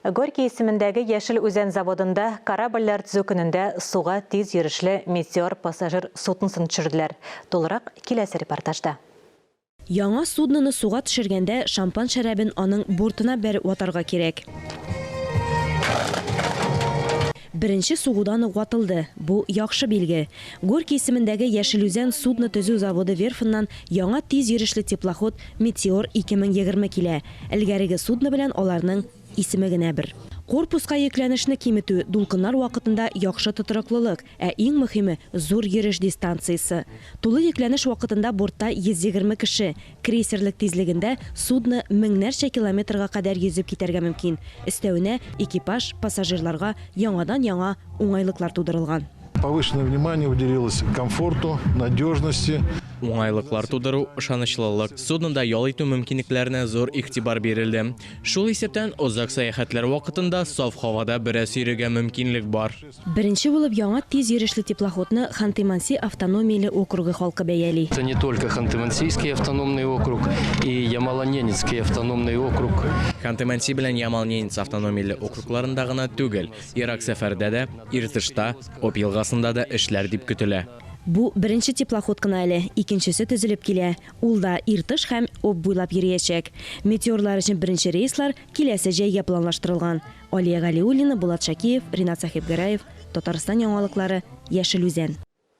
Горький исемендәге Яшел Үзән заводында корабльләр төзү көнендә суга тиз йөрешле Метеор пассажир судносын төшерделәр. Тулырак киләсе репортажда. Яңа судноны суга төшергәндә шампан шәрабен аның бортына бәреп ватарга кирәк. Беренче сугудан ук ватылды. Бу, яхшы билге. Горький исемендәге Яшелүзән судно төзү заводы верфыннан яңа тиз йөрешле теплоход Метеор 2020 килә. Элгәреге судно белән аларның исеме генә бер. Корпуска йөкләнешне киметү, дулкыннар вакытында яхшы тотрыклылык, ә иң мөхиме, зур йөреш дистанциясе. Тулы йөкләнеш вакытында бортта 120 кеше, Крейсерлык тизлегендә судно меңнәрчә километрга кадәр йөзеп китәргә мөмкин, өстәвенә экипаж, пассажирларга яңадан-яңа уңайлыклар тудырылган. Повышенное внимание уделилось комфорту, надежности. Уңайлыклар тудыру, ышанычлылык, суднода ял итү мөмкинлекләренә зур игътибар бирелде. Шул исәптән, озак сәяхәтләр вакытында саф һавада бераз йөрергә мөмкинлек бар. Беренче булып яңа тиз йөрешле теплоходны Ханты-Манси автономияле округы халкы бәяли. Это не только Ханты-Мансийский автономный округ и Ямало-Ненецкий автономный округ. Ханты-Манси белән Ямал-Ненец автономияле округларында гына түгел, ерак сәфәрдә дә, Иртышта, Объ елгасында да эшләр дип көтелә. Бу беренче теплоход кына әле, икенчесе төзелеп килә, ул да Иртыш һәм Объ буйлап йөриячәк. Метеорлар өчен беренче рейслар киләсе җәйгә планлаштырылган. Алия Галиуллина, Булат Шакиев, Ринат Сәхибгәрәев, Татарстан яңалыклары, Яшел Үзән.